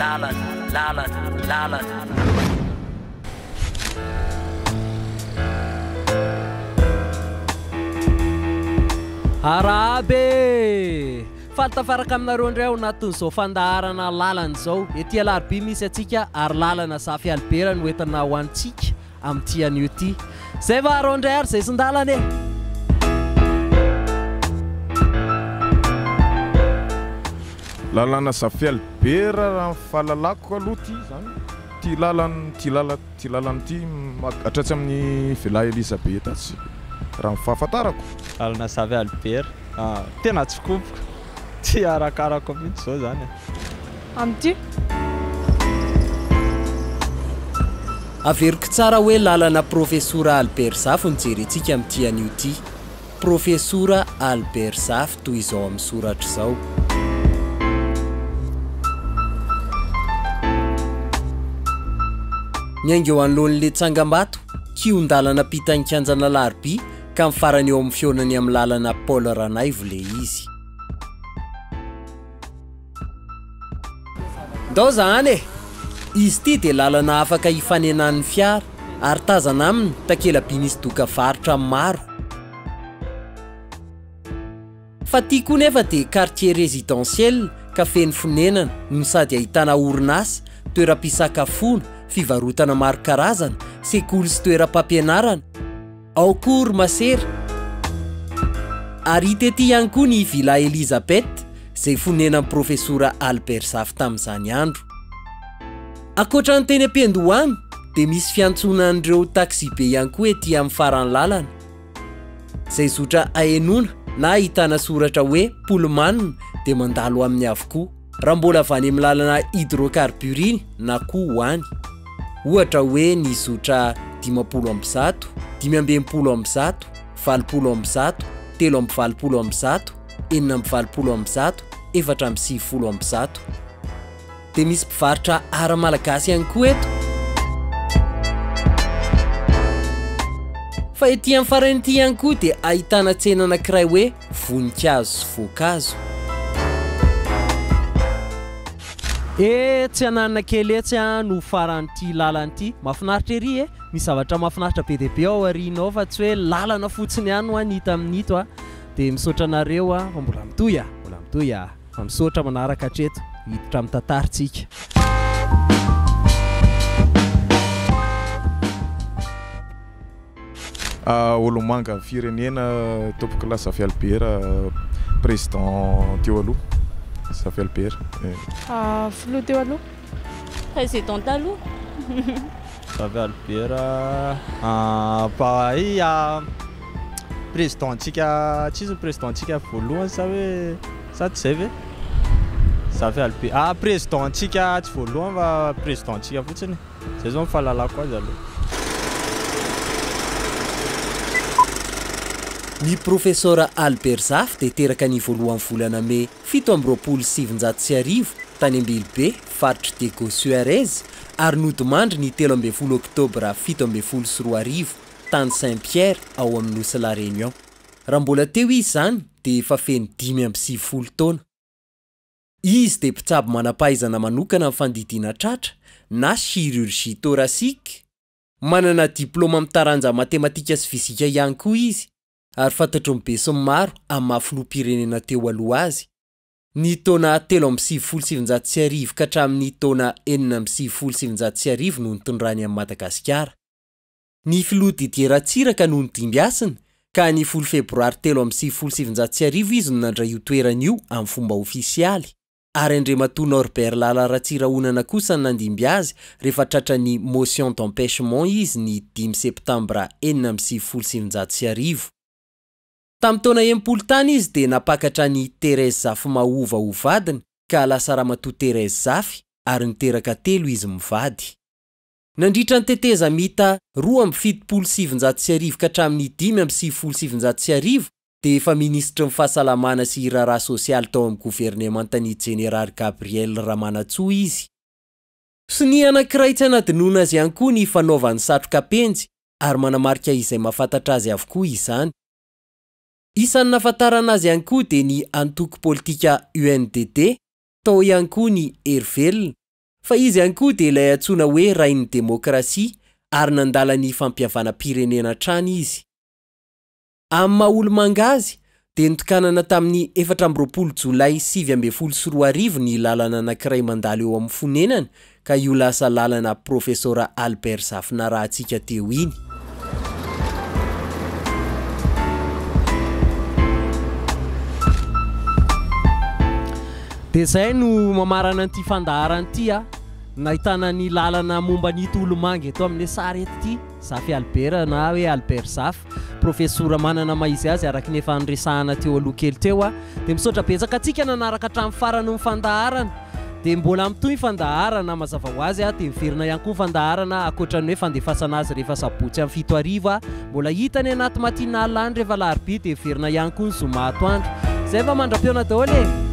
Lalana, lalana, lalana. Arahaba e! Faly tafaraka aminareo indray ao anatin'izao fandaharana lalana izao. Ety Alarobia misy antsika ary lalana Zafy Albert no entina ho antsika Amin'ity anio ity. Zay va arô ndray ary zay sindalana e! Lalana Safialy be ra ra ny fahalalako aloha ty izany ty lalan ty lala ty lalana ty hatratsy amin'ny villa Elisabeth atsy raha ny fahafantarako. Lalana Safialy be ra. Tena tsy koboko. Tsy arakarako mihitsy izao izany e. Amin'ity. Averiko tsara hoe lalana Profesora Albert Zafy no jerentsika amin'ity anio ity. Profesora Albert Zafy toy izao amin'ny soratra izao. Niainga eo anoloan'ilay tsangambato, kihon-dalana ampitan'ny kianjana Alarobia ka ny farany eo amin'ny fihaonany amin'ny lalana Paul Ranaivo ilay izy. Ndao zahana e! Izy ity dia lalana afaka hifanenan'ny fiara ary tazana aminy takela-by nisy doka varotra maro. Fa ity koa nefa dia quartier résidentiel ka feno fonenana no sady ahitana orinasa, toeram-pisakafoana, fivarotana maro karazana, sekoly sy toeram-pampianarana, Ao koa ry masera. Ary hita ety ihany koa ny Villa Elisabeth izay fonenan'i Profesora Albert Zafy tamin'izany andro. Ankoatra ny teny am-piandohana dia misy fiantsonan'ireo taxibe ihany koa ety amin'ny faran'ny lalana izay zotra ahenoana na ahitana soratra hoe Pullman dia mandalo aminy avokoa. raha mbola avy any amin'ny lalana hydrocarbure iny na koa ho any. Ohatra hoe ny zotra dimampolo amby zato, dimy amby enimpolo amby zato, valopolo amby zato, telo amby valopolo amby zato, enina amby valopolo amby zato, efatra amby sivifolo amby zato. Dia misy mpivarotra ara malagasy ihany koa eto. Fa ety amin'ny farany ity ihany koa dia ahitana tsena anankiray hoe voninkazo sy voankazo. Eeh tsy ananina kely etsy an no faran'ity lalana ity. Mafinaritra ery e! Misy zavatra mafinaritra be dia be ao aoriana ao fa tsy hoe lalana fotsiny ihany hoa ny hita amin'ito a! Dia misaotra anareo a! Fa mbola mitohy a! Mbola mitohy a! Fa misaotra manaraka hatreto! Hiditra amin'ny tantara tsika. Olombanga firenena tompokolahy Zafy Albert président teo aloha Zafy Albert. Filoha teo aloha. Président taloha. Zafy Albert mpahay président tsika tsy izy ny président tsika voalohany sa hoe sa tsy zay ve? Zafy Albert président tsika tsy voalohany fa président tsika fotsiny. Zay zao ny fahalalako azy aloha. Ny Profesora Albert Zafy dia teraka ny voalohan'ny volana Mey fito amby roapolo sy sivinjato sy arivo tany Ambilobe, faritr'i Diego Suarez, ary nodimandry ny telo ambin'ny folo oktobra fito ambin'ny folo sy roa arivo tany Saint Pierre ao amin'ny nosy La Réunion. Raha mbola teo izy izany dia efa feno dimy amby sivifolo taona. Izy dia mpitsabo manam-pahaizana manokana amin'ny fandidiana tratra na chirurgie thoracique. Manana diplaoma amin'ny taranja matematika sy fizika ihany koa izy ary fantatry ny besinimaro amin'ny maha filoham-pirenena teo aloha azy, ny taona telo amby sivifolo sy sivinjato sy arivo ka hatramin'ny taona enina amby sivifolo sy sivinjato sy arivo no nitondrany an'i Madagasikara. Ny filoha Didier Ratsiraka no nodimby hasina ka ny folo febroary telo amby sivifolo sy sivinjato sy arivo izy no nandray io toerana io amin'ny fomba ofisialy ary Andriamatoa Norbert Lala Ratsirahonana kosa no nandimby azy rehefa tratran'ny motion d'empêchement izy ny dimy septambra enina amby sivifolo sy sivinjato sy arivo. Tamin'ny taona enimpolo tany izy dia nampakatra an'i Thérèse Zafimahova ho vadiny ka lasa Ramatoa Thérèse Zafy ary niteraka telo izy mivady. Nandritra ny tetezamita roa amby fitopolo sy sivinjato sy arivo ka hatramin'ny dimy amby sivifolo sy sivinjato sy arivo dia efa minisitry ny Fahasalamana sy Raharaha Sosialy tao amin'ny governemantan'ny Jeneraly Gabriel Ramanantsoa izy. Sonia anankiray tsy hanadinoana azy ihany koa ny fanaovany satroka penjy ary manamarika izay mahafantatra azy avokoa izany. Isan'ny nahafantarana azy ihany koa dia ny antoko politika UNDD, tao ihany koa ny Hery Velona, Fa izy ihany koa dia ilay antsoina hoe rain'ny demokrasia ary nandala ny fampihavanam-pirenena hatrany izy. Amin'ny maha olo-manga azy dia notokanana tamin'ny efatra amby roapolo jolay sivy ambin'ny folo sy roa arivo ny lalana anankiray mandalo eo amin'ny fonenany ka io lasa lalana Profesora Albert Zafina Rahatsika teo iny. Dia izay no mamarana an'ity fandaharana ity a, nahitana ny lalana momba an'ito olomanga eto amin'ny sary eto ity, Zafy Albert na hoe Albert Zafy, profesora manana maha izy azy araka ny efa niresahana teo aloha kely teo a. Dia misaotra betsaka antsika nanaraka hatramin'ny faran'ny fandaharana. Dia mbola mitohy ny fandaharana mazava ho azy dia miverina ihany koa ny fandaharana ankoatra ny hoe fandefasana azy rehefa sabotsy amin'ny fito hariva mbola hita any anaty matinal any rehefa alarobia dia miverina ihany koa ny zoma atoandro izay fa mandra-pihaona daholo e